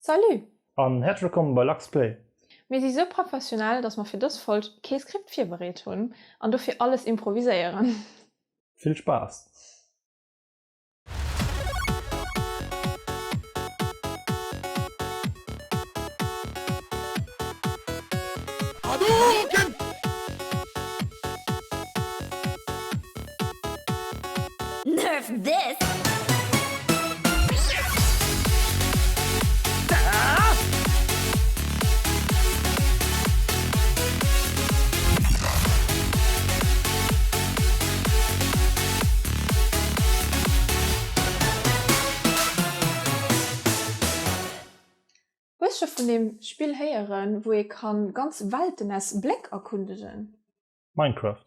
Salut! An häerzlech wëllkommen bei Lachs Play! Mir si sou professionell, dass mer fir dës Folg kee Skript virbereet hunn an dofir alles improviséieren. Vill Spaass! Nerf this! Hu ech scho vun deem Spill héieren wou ee kann ganz Welten aus Bléck erkundegen? Minecraft.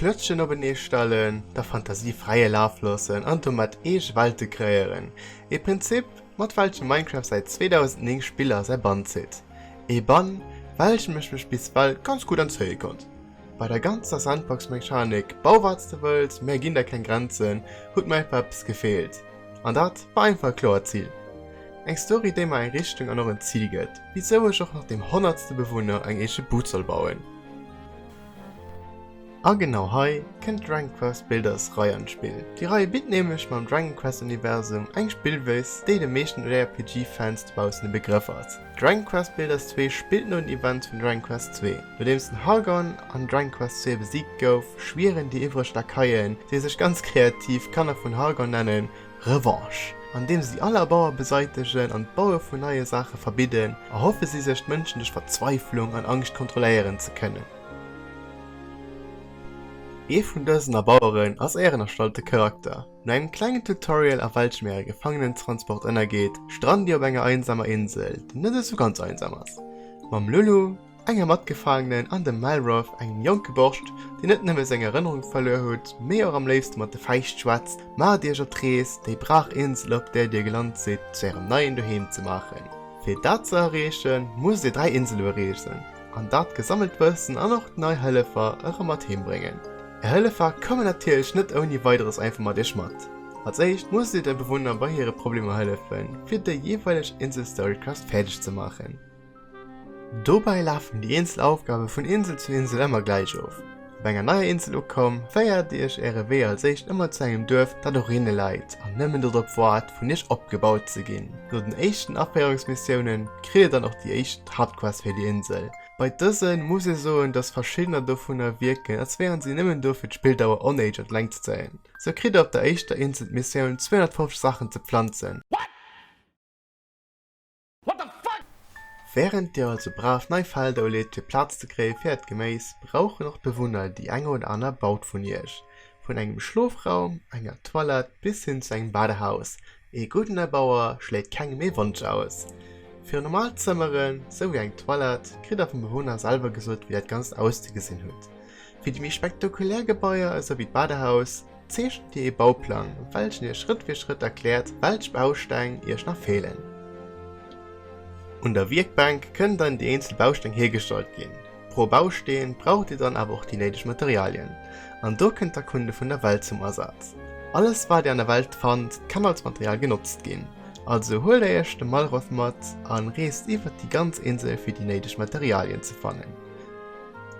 D'Klötzchen openee stellen, der Fantasie fräie Laf loossen an domat eege Welte kreéieren. Ee Prinzip, mat welchem Minecraft säit 2009 Spiller a säi Bann zitt. Ee Bann, welchem ech mech bis well ganz gutt entzéie konnt. Bei der ganzer Sandbox-Mechanik, bau wat s de wëlls, mir ginn der keng Grenzen, huet mer einfach eppes gefeelt. An dat war einfach e kloert Zil. Eng Story, déi mer eng Richtung an och en Zil gëtt, wisou ech och nach dem honnertste Bewunner eng eege Bud soll bauen. A genau hei kënnt d'Dragon Quest Builders Rei an d'Spill. Déi Rei bitt nämlech mam Dragon Quest Universum eng Spillweis, déi de meeschten JRPG Fans dobaussen e Begrëff ass. Dragon Quest Builders 2 spillt no den Events vun Dragon Quest 2. Nodeems den Hargon an Dragon Quest 2 besiegt gouf, schwieren déi iwwreg Lakaien, déi sech ganz kreativ Kanner vun Hargon nennen, Revanche. Andeems si all Abauer beseitegen an d'Baue vun neie Saache verbidden, erhoffe si sech d'Mënschen duerch Verzweiflung an Angscht kontrolléieren ze kënnen. Ee vun dësen Abaueren ass ären erstallte Charakter. No engem klengen Tutorial a welchem äre Gefangenentransport ënnergeet, strannt dir op enger einsamer Insel, déi net esou ganz einsam ass, mam Lulu, enger Matgefaangenen an dem Malroth, engem jonke Borscht, deen net nëmme seng Erënnerung verluer hutt, mee och am léifste mat de Fäischt schwätzt, maacht iech op d'Rees, déi brach Insel, op där dir gelant sidd, zu ärem neien Doheem ze maachen. Fir dat ze erreechen, musst dir dräi Insele bereesen an dat gesammelt Wëssen an och nei Hëllefer erëm mat heem bréngen. Är Hëllefer kommen natierlech net ouni Weideres einfach mat iech mat. Als éischt musst dir de Bewunner bei hire Problemer hëllefen, fir déi jeeweileg Insel-Storyquest fäerdeg ze maachen. Dobäi lafen déi eenzel Aufgabe vun Insel zu Insel ëmmer gläich of. Op enger neier Insel ukomm, féiert iech äre Wee als éischt ëmmer zu engem Duerf, dat och rinne läit an nëmmen dorop waart, vun iech opgebaut ze ginn. No den éischten Aféierungsmissiounen kritt dir dann och déi éischt Haaptquest fir déi Insel. Bei dësen muss ee soen, dass verschiddener dovunner wierken, als wären si nëmmen do fir d'Spilldauer onéidesch an d'Längt ze zéien. Sou kritt der op der éischter Insel d'Missioun 250 Saachen ze pflanzen. Während dir also brav nei Felder uleet fir Plaz ze kréie fir äert Geméis, brauchen och d'Bewunner déi eng oder aner Baut vun iech. Vun engem Schlofraum, enger Toilette bis hin zu engem Badehaus, ee gudden Erbauer schléit kengem ee Wonsch aus. Fir normal Zëmmeren, sou wéi eng Toilette, kritt der vum Bewunner selwer gesot wéi dat Ganzt auszegesinn huet. Fir déi méi spektakulär Gebaier, esou wéi d'Badehaus, Zeechent Dir ee Bauplang, welchen Iech Schrëtt fir Schrëtt erkläert, welch Bausteng Iech nach feelen. Un der Wierkbänk kënnen dann déi eenzel Bausteng hiergestallt ginn. Pro Bausteen braucht Dir dann awer och déi néideg Materialien. An do kënnt d'Erkunde vun der Welt zum Asaz. Alles wat Dir an der Welt fannt, kann als Material genotzt ginn. Also huelt Iech de Malroth mat an reest iwwert déi ganz Insel fir déi néideg Materialien ze fannen.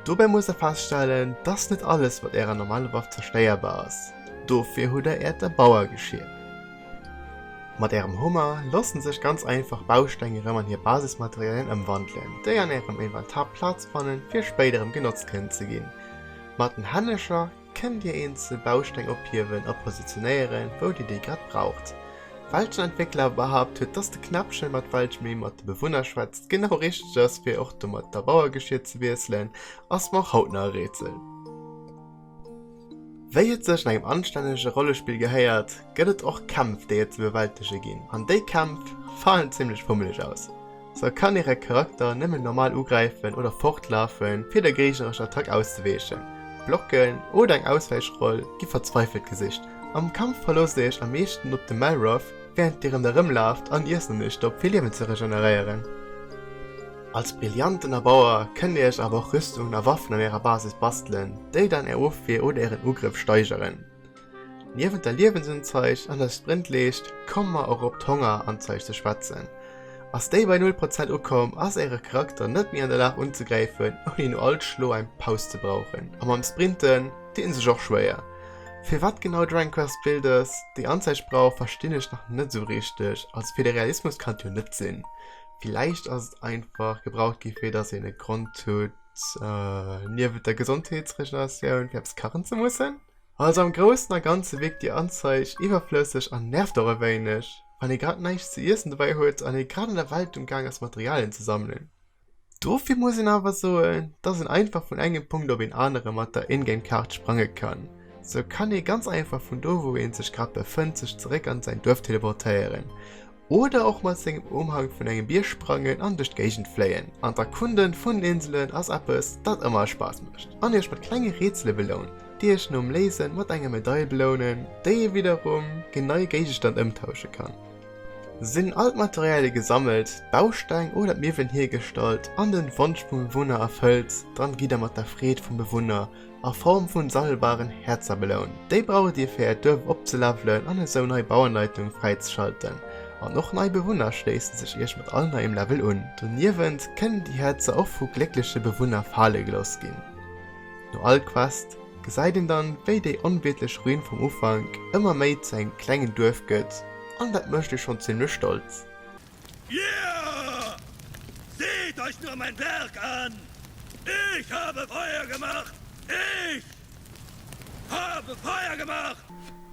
Dobäi musst der feststellen, dass net alles mat ärer normaler Waff zerstéierbar ass. Dofir hutt der äert Erbauergeschier. Mat ärem Hummer loossen sech ganz einfach Bausteng erëm an hir Basismaterialien ëmwandelen, déi an ärem Inventar Plaz fannen, fir spéider erëm genotzt kënnen ze ginn. Mat den Hännescher. Kënnt Dir eenzel Bausteng ophiewen a positionéieren, wou Dir déi grad braucht? Welchen Entwéckler behaapt huet, dass de Knäppchen, mat welchem ee mat de Bewunner schwätzt, genau richteg ass, fir och domat d'Erbauergeschier ze wiesselen, ass mer och haut nach e Rätsel. Wéi et sech an engem anstännege Rollespill gehéiert, gëtt et och Kämpf, déi et ze bewältege ginn, an déi Kämpf falen zimlech fummeleg aus. Se kann hire Charakter nëmmen normal ugräifen oder fortlafen, fir der géignerescher Attack auszeweechen. Blocken oder eng Auswäichroll gi verzweifelt gesicht. Am Kampf verloosst Dir Iech am meeschten op de Malroth, wärend Dir en erëmlaaft an Iech an Iech stoppt, fir Liewen ze regeneréieren. Als brillanten Erbauer kënnt Dir Iech awer och Rüstungen a Waffen an Ärer Basis bastelen, déi dann Är Ofwier oder Ären Ugrëff steigeren. Niewent der Liewensunzeich an der Sprintleescht komme mer och op d'Hongerunzeich ze schwätzen. Ass déi bei null Prozent ukomm, ass Äre Charakter net méi an der Lag unzegräifen, ouni no all Schlo eng Paus ze brauchen. A mam Sprinten deet een sech och schwéier. Firwat genau Dragon Quest Builders déi Anzeich brauch, verstinn ech nach net esou richteg. Also fir de Realismus kann et jo net sinn. Villäicht ass et einfach gebraucht gi fir dass een e Grond huet, Niewent der Gesondheetsreglementatioun fir eppes kachen ze mussen. Also am Groussen a Ganze wierkt déi Anzeig iwwerflësseg an nervt och e wéineg, wann ee grad näischt ze iessen dobäi huet an ee grad an der Welt um Gaang ass Materialien ze sammelen. Dofir muss een awer soen, dass een einfach vun engem Punkt op een anere mat der In-Game Kaart sprange kann. Sou kann ee ganz einfach vun do wou ee sech grad befënnt sech zeréck an säin Duerf teleportéieren. Oder och mat sengem Umhang vun engem Bierg sprangen an duerch d'Géigend fléien an d'Erkunden vun den Inselen ass eppes dat ëmmer Spaass mécht an iech mat klenge Rätsele belount déi iech nom Léisen mat enger Medail belounen déi ee widderum gen nei Géigestand ëmtauschen kann. Sinn all d'Materialie gesammelt, d'Bausteng oder d'Miwwelen hiergestallt an den Wonsch vum Bewunner erfëllt, dann gidd der mat der Freed vum Bewunner a Form vun sammelbaren Häerzer beloun. Déi braucht Dir fir Äert Duerf opzelevelen an esou nei Bauanleitung fräizeschalten. An och nei Bewunner schléissen sech Iech mat all neiem Level un. Doniewent kënnen déi Häerzer och vu gléckleche Bewunner fale geloss ginn. No all Quest gesäit een dann wéi déi onwiertlech Ruin vum Ufank ëmmer méi zu engem klengen Duerf gëtt an dat mécht ee schonn zimmlech stolz. Yeah! Seht euch nur mein Werk an! Ich habe Feuer gemacht! Ich habe Feuer gemacht!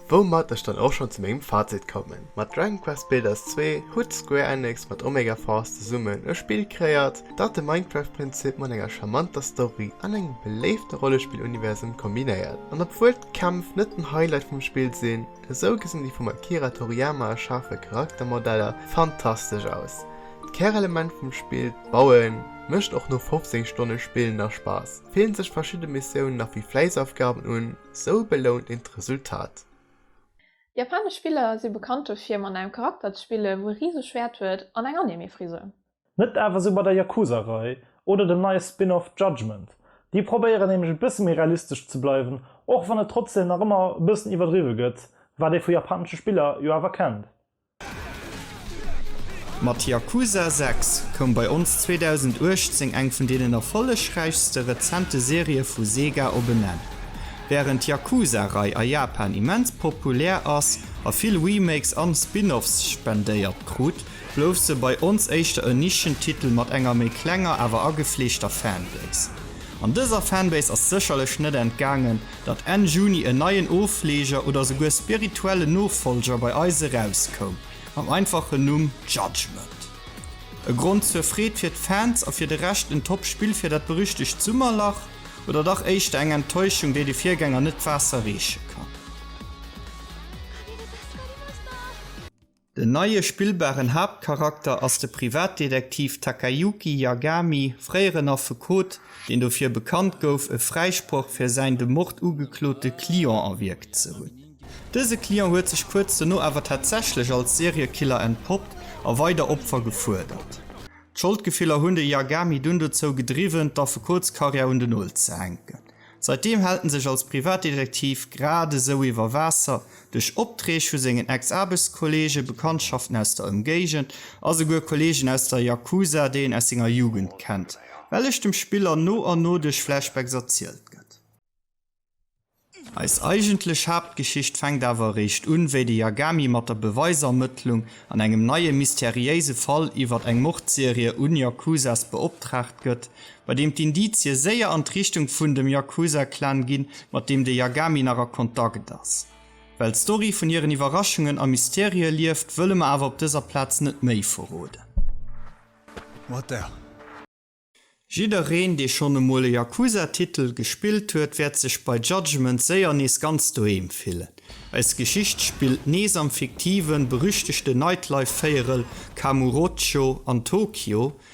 Woumat ech dann och schon zu mengem Fazit kommen, mat Dragon Quest Builders 2 huet Square Enix mat Omega Force zesummen e Spill kreéiert, dat de Minecraft Prinzip mat enger charmanter Story an engem beléifte Rollespill Universum kombinéiert. An obwuel d'Kämpf net den Highlight vum Spill sinn, Esou gesinn déi vum Akira Toriyama erschafe Charaktermodeller fantastesch aus. D'Kärelement vum Spill, d'Bauen, mécht och no 15 Stonne Spill nach Spaass. Fillen sech verschidde Missiounen nach wéi Fläissaufgaben un, esou belount een d'Resultat. Japanesch Spiller si bekannt dofir, mat engem Charakter ze spillen, wou e riseg Schwäert huet an eng Anime-Frisur. Net awer sou bei der Yakuza-Rei oder dem neie Spin-off Judgment. Déi probéieren nämlech e bësse méi realistesch ze bleiwen, och wann et trotzdeem nach ëmmer e bëssen iwwerdriwwe gëtt, wat ee vu japanesche Spiller jo awer kennt. Mat Yakuza 6 koum bei ons 2018 eng vun deenen erfollegräichste rezente Serië vu Sega op en Enn. Wärend d'Yakuza-Rei a Japan immens populär ass a vill Remakes an Spin-offs spendéiert krut, Blouf se bei ons éischter en Nischentitel mat enger méi klenger awer agefleegter Fanbase. An dëser Fanbase ass sécherlech net entgaangen, datt Enn Juni en neien Ofleeger oder souguer spirituellen Nofollger bei eis erauskoum, mam einfachen Numm Judgement. E Grond zur Freed fir d'Fans a fir de Rescht en top Spill fir dat berüchtegt Summerlach? Oder dach éischter eng Enttäuschung, déi de Virgänger net d'Waasser reeche kann? Den neie spillbaren Haaptcharakter ass de Privatdetektiv Takayuki Yagami, fréieren Affekot, deen dofir bekannt gouf, e Fräisproch fir säin de Mord ugeklote Client erwierkt ze hunn. Dëse Client huet sech kuerz dono awer tatsächlech als Seriekiller entpoppt a weider Opfer gefuerdert. D'Scholdgefiller hunn de Yagami dunn dozou gedriwwen, d'Affekotskarriär un den Nol ze hänken. Seitdeem hält en sech als Privatdetektiv grad esou iwwer Waasser, duerch Opträg vu sengen Ex-Aarbechtskolleegen, Bekanntschaften aus der Ëmgéigend a souguer Kolleegen aus der Yakuza, déi en aus senger Jugend kennt, wellech dem Spiller no an no duerch Flashbacks erzielt gëtt. Eis eigentlech Haaptgeschicht fänkt awer eréischt un, wéi de Yagami mat der Beweisermëttlung an engem neie mysteriéise Fall iwwert eng Mordserie un Yakuzas beoptraagt gëtt, bei deem d'Indizie séier an d'Richtung vun dem Yakuza-Clan ginn, mat deem de Yagami nach a Kontakt ass. Well d'Story vun hiren Iwwerraschungen a Mysterië lieft, wëlle mer awer op dëser Plaz net méi verroden. What the. Jiddereen, dee schonn emol e Yakuza-Titel gespillt huet, wäert sech bei Judgment séier nees ganz doheem fillen. Eis Geschicht spillt nees am fiktiven, berüchtegten Nightlife-Véierel Kamurocho an Tokio,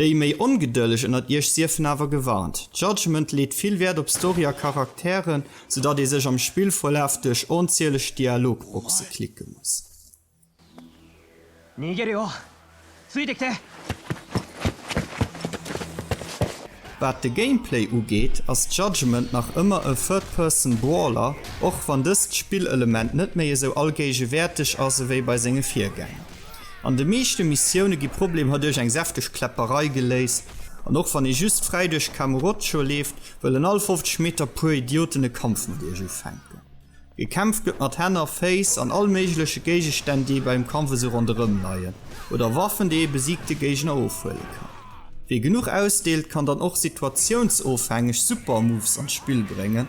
Déi méi Ongedëlleg ënnert iech siefen awer gewarnt, Judgement leet vill Wäert op Story a Charakteren, sou datt ee sech am Spillverlaf duerch onzieleg Dialogboxe klicke muss. Wat de Gameplay ugeet, ass Judgement nach ëmmer e Third-Person Brawler, och wann dëst Spillelement net méi esou allgéigewäerteg ass ewéi bei senge Virgänger. An de meeschte Missioune gi Problemer duerch eng säfteg Kläpperei geléist, an och wann ee just fräi duerch Kamurocho leeft, wëllen all 50 Meter e puer Idioten e Kampf mat iech ufänken. Gekämpft gëtt mat Hänn a Féiss an all méigleche Géigestänn, déi ee bei engem Kampf esou ronderëm leien, oder Waffen, déi ee besiegte Géigner ofhuele kann. Wie genuch ausdeelt, kann dann och situatiounsofhängeg Super-Moves an d'Spill bréngen.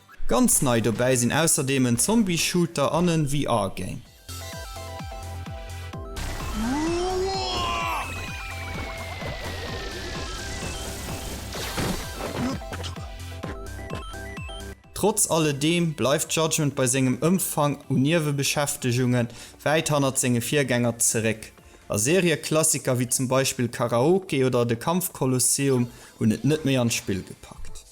Ganz nei dobäi sinn ausserdeem en Zombie-Shooter an en VR-Game. Trotz alledeem bleift Judgment bei sengem Ëmfang u Niewebeschäftegunge wäit hannert senge Virgänger zeréck, a Serieklassiker wéi zum Beispill Karaoke oder de Kampf Colosseum hunn et net méi an d'Spill gepackt.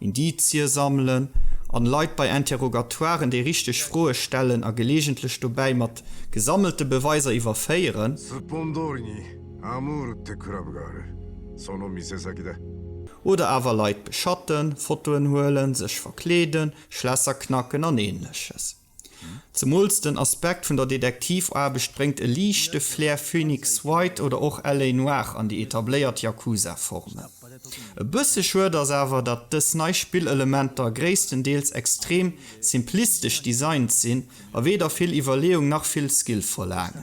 Indizie sammelen an Leit bei Interrogatoiren déi richteg Froe stellen a gelegentlech dobäi mat gesammelte Beweiser iwwerféieren. Oder awer Leit beschatten, Fotoen huelen, sech verkleeden, Schlässer knacken an Ähnleches. Zemools den Aspekt vun der Detektivaarbecht bréngt e liichte Flair Phoenix Wright oder och LA. Noir an déi etabléiert Yakuza-Formel. E bësse schued ass awer, datt dës nei Spillelementer gréisstendeels extrem simplistesch designt sinn a weder vill Iwwerleeung nach vill Skill verlaangen.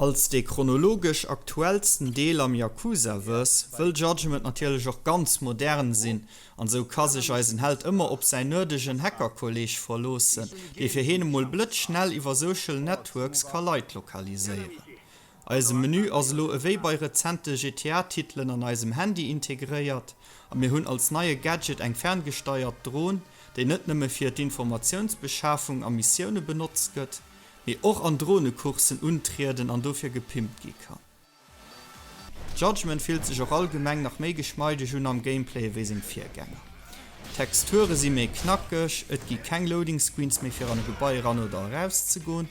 Als dee chronologesch aktuellsten Deel am Yakuza-Verse wëll Judgement natierlech och ganz modern sinn, an esou ka sech eisen Held ëmmer op säin nerdegen Hacker-Kolleeg verloossen, dee fir heen emol blëtzschnell iwwer Social Networks ka Leit lokaliséieren. Eise Menü ass elo ewéi bei rezente GTA-Titelen an eisem Handy integréiert a mir hunn als neie Gadget eng ferngesteiert Dron, déi net nëmme fir d'Informatiounsbeschafung a Missioune benotzt gëtt, mee och an Dronecoursen untrieden an dofir gepimpt gi kann. D'Judgement fillt sech och allgemeng nach méi geschmeideg un am Gameplay ewéi seng Virgänger. D'Texture si méi knackeg, et gi keng Loading Screens méi fir an e Gebai eran oder eraus ze goen,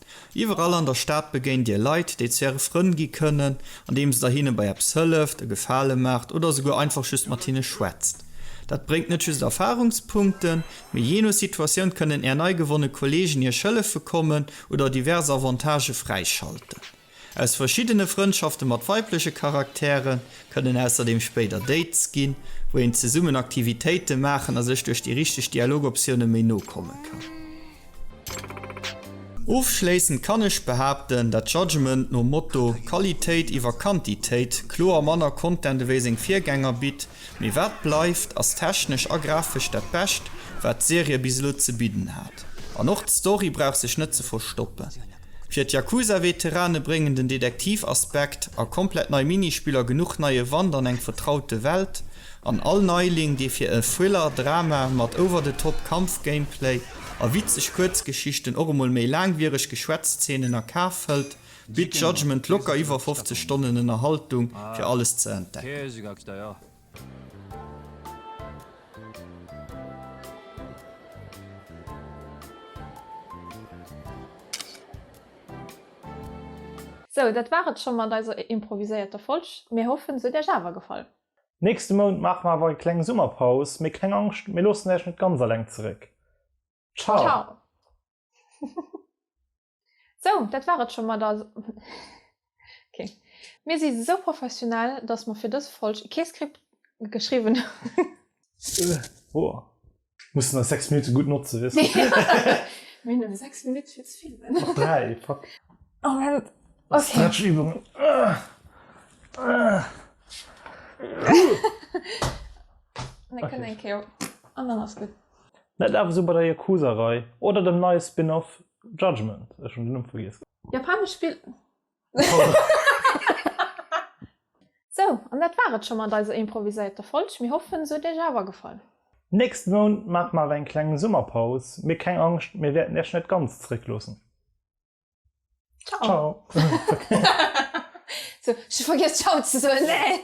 Iwwerall an der Stad begéint dir Leit, déi zu äre Frënn gi kënnen, andeems der hinne bei eppes hëlleft, e Gefale maacht oder esouguer einfach just mat hinne schwätzt. Dat bréngt net just Erfarungspunkten, mee jee no Situatioun kënnen är nei gewonne Kolleegen iech hëllefe kommen oder divers Avantagë fräischalten. Aus verschiddene Frëndschafte mat weibleche Charaktere kënnen ausserdeem spéider Dates ginn, wou een zesummen Aktivitéite maachen a sech duerch déi richteg Dialogoptioune méi no komme kann. Ofschléissend kann ech behaapten, dat Judgement nom Motto Qualitéit iwwer Quantitéit kloer manner Content ewéi seng Virgänger bitt, mee wat bleift, ass technesch a grafesch dat Bescht, wat d'Serie bis elo ze bidden hat. An och d'Story brauch sech net ze verstoppen. Fir d'Yakuza-Veterane bréngen den Detektiv-Aspekt a komplett nei Minispiller genuch neie Wand an eng vertraute Welt, an all Neiling, dee fir e Thriller-Drama mat over-the-top Kampf-Gameplay a witzeg Kuerzgeschichten och emol méi laangwiereg Geschwätz-Zeenen a Kaf hëlt, bitt Judgment locker iwwer 50 Stonnen Ënnerhaltung, fir alles ze entdecken. Sou, dat war et scho mat eiser improviséierter Folg. Mir hoffen, se huet Iech awer gefall. Nächste Mount maache mer awer eng kleng Summerpaus, mee keng Angscht, mir loossen Iech net ganz alleng zeréck. Ciao! Ciao! Sou, dat war et scho mat der. Okay. Mir si sou professionell, dass mer fir dës Folg kee Skript geschriwwen hunn. Boah. Mussen eis 6 Minutte gutt notzen, weess de. Mir hunn nëmme 6 Minutt fir ze filmen. Och 3, fuck. Moment, okay. Stretchübungen. Mir kënnen eng Kéier. An dann ass gutt. Net awer sou bei der Yakuza-Rei oder dem neie Spin-Off Judgment, ech hun den Numm vergiess. Japanesch Spill. Sou, an dat war et scho mat eiser improviséierter Folg. Mir hoffen, se huet iech awer gefall. Nächsten Mount maache mer awer eng kleng Summerpaus, mee keng Angscht, mir wäerten iech net ganz zeréckloossen. Ciao! Ciao! Sou, ech hu vergiess Ciao ze soen, nee!